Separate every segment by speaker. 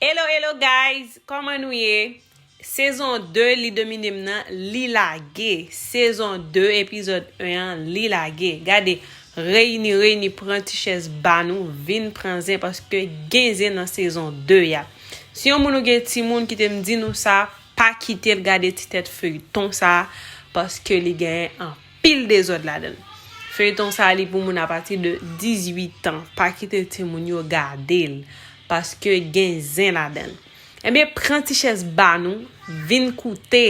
Speaker 1: Hello hello guys koman nou ye sezon 2 li domine m nan li lage sezon 2 epizod 1 an li lage gade reyini reyini pran ti chèz ba nou vin pran zen paske gen zen nan sezon 2 a si yon moun ou gen timoun kite m di nou sa pa kite l gade ti tèt feyton sa paske li gen anpil Pil dezod ladann. Feuilleton sa li pou moun a pati de 18 ans pa kite timoun yo gadel paske gen zen ladann ebyen pran ti chèz ba nou vin koute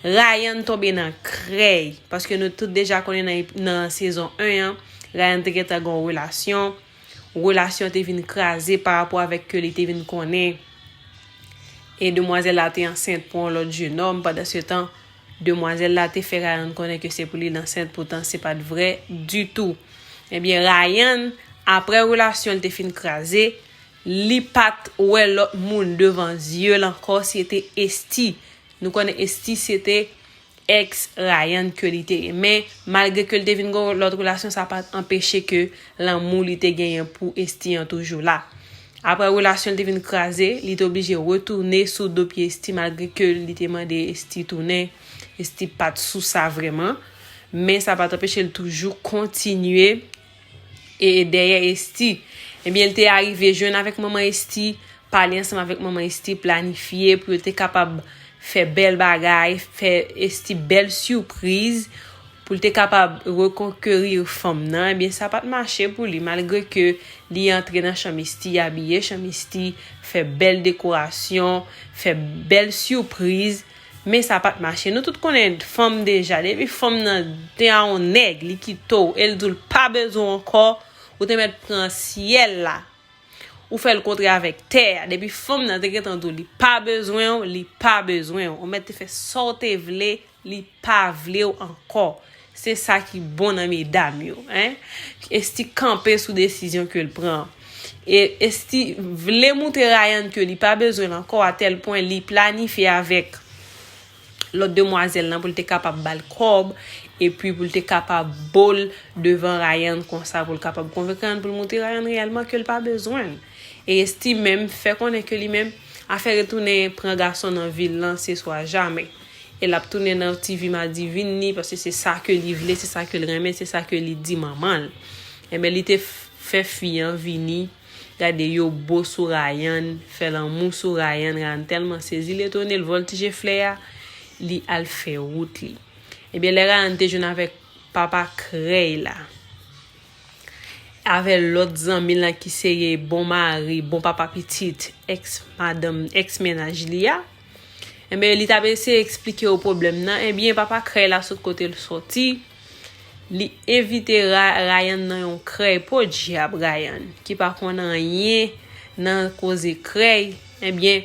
Speaker 1: Rayan tonbe nan krèy paske nou tout deja konnen nan sezon 1 an Rayan te gentan gon relasyon relasyon te vin kraze pa rapò avèk ke li te vin konnen e demwazèl la te ansent pou yon lòt jenòm pandan se tan Demwazèl la te fè Rayan konnen ke se pou li l ansent poutan se pa t vrè ditou. Ebyen Rayan, aprè relasyon l te fin kraze, li pa t wè lòt moun devan zye l ankò se te Esthie. Nou konnen Esthie se te ex Rayan ke li te ye. Men, malgre ke l te vin gen yon lòt relasyon sa pa t anpeche ke lanmou li te genyen pou Esthie an toujou la. Aprè relasyon l te vin kraze, li te oblije retounen sou do pye Esthie malgre ke li te mande Esthie tounen, Esthie pa t sou sa vrèman, men sa pa t anpeche l toujou kontinye dèyè Esthie. Ebyen l te arive jwenn avèk manman Esthie, pale ansanm avèk manman Esthie, planifye pou yo te kapab fè bèl bagay, fè Esthie bèl sipriz. pou l te kapab rekonkerir fanm nan, ebyen sa pa t mache pou li malgre ke li antre nan Chan Misti, abiye Chan Misti, fè bèl dekorasyon, fè bèl surpriz, men sa pa t mache. Nou tout konnen fanm deja, depi fanm nan te a yon nèg, li kite w e l di w l pa bezwen w ankò, ou te mèt pran syèl la, ou fè l kontre avèk tè a, depi fanm nan te gentan di w li pa bezwen w, li pa bezwen w, ou mèt te fè sa w te vle Li pa vlew ankò. Se sa ki bon nan medam yo hein. Esthie kanpe sou desizyon kel pran an. E Esthie vle moutre Ryan ke li pa bezwenl ankò a tèl pwen li planifye avèk lòt demwazèl lan poul te kapab bal kòb epi poul te kapab bol devan Ryan konsa poul kapab konvenk Ryan poul moutre Ryan reyèlman kel pa bezwenl. E Esthie menm fè konnen ke li menm afè retounen pran gason nan vil lan se swa jamè. E lap tounen nan TV madivin li paske se sa ke li vle, se sa ke l renmen, se sa ke li di manman l. Enben li te fè fi an vini, gade yo bo sou Rayan, fè lanmou sou Rayan, Rayan tèlman sezi l etone l vòltije flè a, li al fè wout li. Ebyen lè Rayan te jwenn avèk papa krèy la. Avè lòt zanmi l an ki se ye bon mari, bon papa pitit, èks madanm, èks mennaj li a. Enben, li t ap eseye eksplike yo pwoblèm nan. Enben, papa krèy la sot kote l soti. Li envite Ryan nan yon krèy. Podyab, Ryan, ki pa konn anyen nan koze krèy. Enben,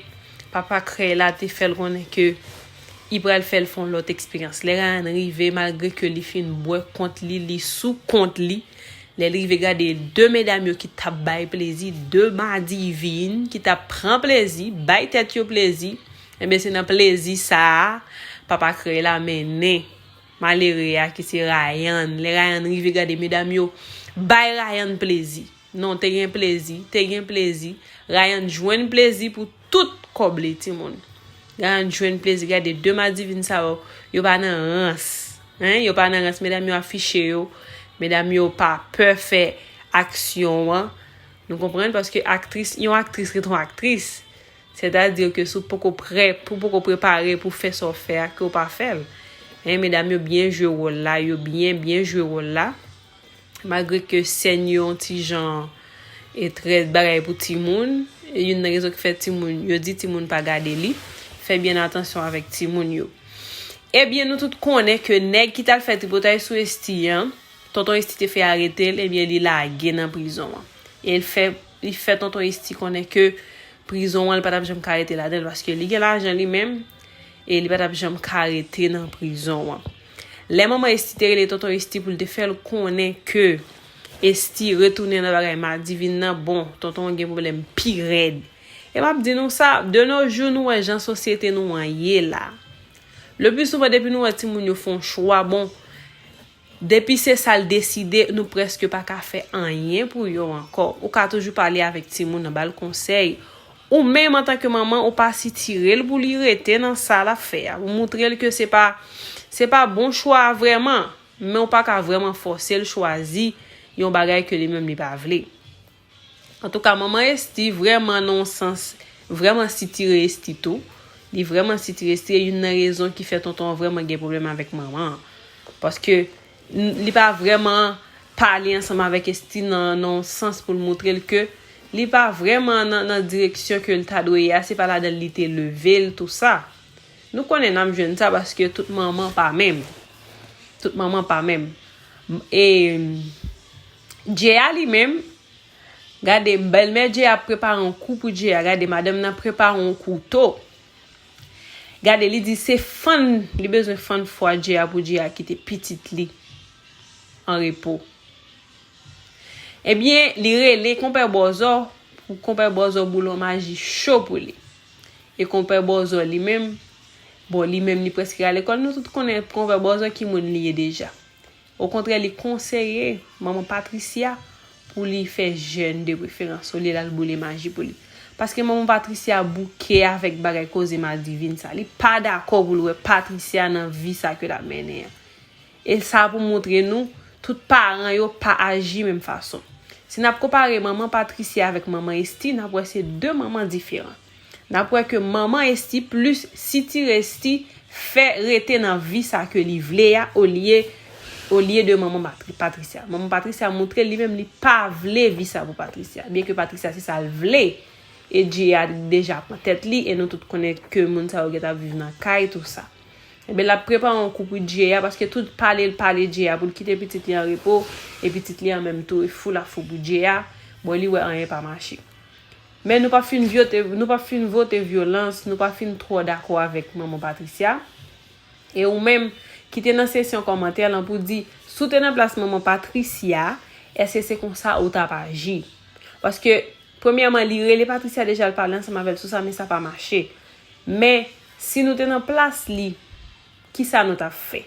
Speaker 1: papa krèy la te fè l konnen ke. I pral fèl fon lòt eksperyans lè Ryan rive malgre ke li fin bwè kont li li sou kont li lèl rive gade 2 medam yo ki tap bay plezi 2 madivin ki tap pran plezi bay tèt yo plezi enben se nan plezi sa papa krèy la mennen malere a ki se Ryan lè Ryan rive gade medam yo bay Ryan plezi non te gen plezi te gen plezi Ryan jwenn plezi pou Tout kòb li timoun. Gayan t jwenn plezi gade 2 madivin sa yo yo pa nan rans hein yo pa nan rans medam yo afiche yo medam yo pa pè fè aksyon an nou konprann paske aktris yon aktris ret yon aktris sètadi ke si w poko prè pou poko prepare pou fè sa w fè a ke w pa fè l hein medam yo byen jwe wòl la yo byen byen jwe wòl la. Malgre ke sèn yo yon ti jan etrèt bagay pou timoun, e youn nan rezon ki fè timoun, yo di timoun pa gade li, fè byen atansyon avèk timoun yo. Ebyen nou tout konnen ke nèg ki tal fè tripotay sou Esthie an, tonton Esthie te fè arete l, ebyen li lage nan prizon an. E l fè, li fè tonton Esthie konnen ke prizon an li pa tap janm ka rete ladan l paske li gen lajan li menm e li pa tap janm ka rete nan prizon an. Lè manman Esthie te rele tonton Esthie pou l te fè l konnen ke Esthie retounen nan bagay madivin nan bon tonton an gen pwoblèm pi rèd e m ap di nou sa de no jou nou wè jan sosyete nou an ye la le pli souvan depi nou wè timoun yo fon chwa bon depi se sa l deside nou prèske pa ka fè anyen pou yo ankò ou ka toujou pale avèk timoun nan ba l konsèy Ou menm antanke manman ou pa sitirel pou li rete nan sa lap fè a ou moutrel ke se pa se pa bon chwa a vrèman men ou pa ka vrèman fòsel chwazi yon bagay ke li menm li pa vle antouka manman Esthie vrèman nan yon sans vrèman sitire Esthie tou li vrèman sitire Esthie e youn nan rezon ki fè tonton an vrèman gen pwoblèm avèk manman an paske Li pa vrèman pale ansanm avèk Esthie nan yon sans pou l moutre l ke li pa vrèman nan direksyon ke l ta dwe ye a, se pa ladan l li te leve l tou sa. Nou konnen n ap jwenn sa paske tout manman pa menm. Tout manman pa menm. E Djeya li menm, gade bèlmè Djeya ap prepare yon kou pou Djeya, gade madanm nan prepare yon kouto. Gade li di se fann li bezwen fann fwa Jay-a pou Jay-a kite pitit li an repo. Ebyen li rele konpè bòzò pou konpè bòzò boulon maji cho pou li. E konpè bòzò li menm, bon li menm li prèske al lekòl nou tout konnen konpè bòzò ki moun li ye deja. Okontrè li konseye manman Patricia pou li fè jèn de preferans olye lal boule maji pou li. Paske manman Patricia bouke avèk bagay koze madivin sa. Li pa dakò pou l wè Patricia nan vi sa ke lap mennen an. E sa pou moutre nou tout paran yo pa aji menm fason. Si nap konpare manman Patricia avèk manman Esthie nap wè se 2 manman diferan. Nap wè ke manman Esthie plus sitirè Esthie fè rete nan vi sa ke li vle ya olye olye de manman Patricia. Manman Patricia moutre li menm li pa vle vi sa pou Patricia. Byen ke Patricia se sa l vle e Dye a deja pran tèt li e nou tout konnen ke moun sa yo gentan ap viv nan kay tou sa. Ebyen lap prepare yon kou pou Dye a paske tout pale l pale Dye a pou l kite pitit li an repo e pitit li an menm tou e fou la fou pou Dye a bon li wè anyen pa mache. Men nou pa fin vyote, nou pa fin vote vyolans, nou pa fin twò dakò avèk manman Patricia. E ou menm, ki te nan sesyon kòmantè lan pou di, si w te nan plas manman Patricia, èske se konsa ou t ap aji? Paske, premyèman, li rele Patricia deja l pale ansanm avè l sou sa men sa pa mache. Men, si nou te nan plas li, kisa nou t ap fè?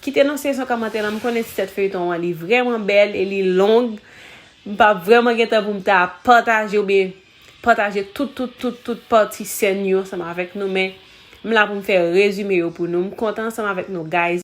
Speaker 1: Kite nan seksyon kòmantè lan m konnen ti tèt feyton an li vrèman bèl e li long m pap vrèman gen tan pou m ta pataje oubyen pataje tout tout tout tout pati sèn yo ansanm avèk nou men m la pou m fè rezime yo pou nou m kontan ansanm avèk nou guys.